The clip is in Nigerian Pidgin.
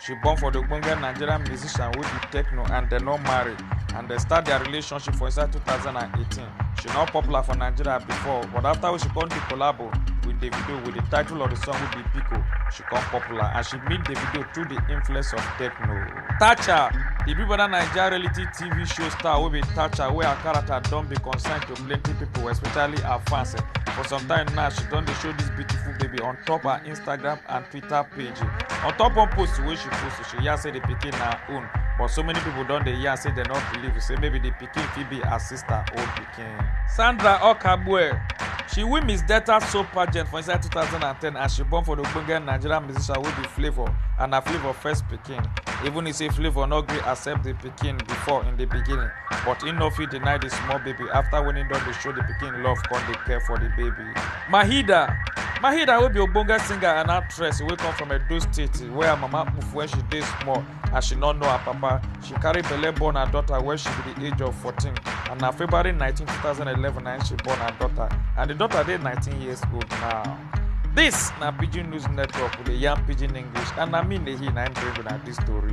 She born for the Ogbonge Nigerian musician wey be techno and dem no marry and dem start their relationship for inside 2018. She no popular for Nigeria before but after wey she come do collabo with Davido with the title of the song wey be Biko, she come popular and she meet Davido through the influence of techno. Thatcher, the Big Brother Naija reality TV show star wey be Thatcher wey her character don be concern to plenty people especially her fans. For some time now she don dey show this beautiful baby on top her Instagram and Twitter. twitter page on top one post wey she post she yarn say the pikin na her own but so many people don dey yarn say dem no believe say maybe the pikin fit be her sister own pikin. sandra okagbue she win miss delta soap pageant for inside 2010 and she born for the ogbonge nigerian musician wey be flavour and na flavour first pikin even if say flavour no gree accept the pikin before in the beginning but im no fit deny the small baby after when im don dey show the pikin love come dey care for the baby. Mahida. Mahida wey be ogbonge singer and actress wey come from Edo State where her mama move when she dey small as she no know her papa. She carry belle born her daughter when she be the age of 14 and na February 19, 2011 na im she born her daughter and the daughter dey 19 years old now. This na Pidgin News Network with the Yam Pidgin English and na me Nehi na im bring una this story.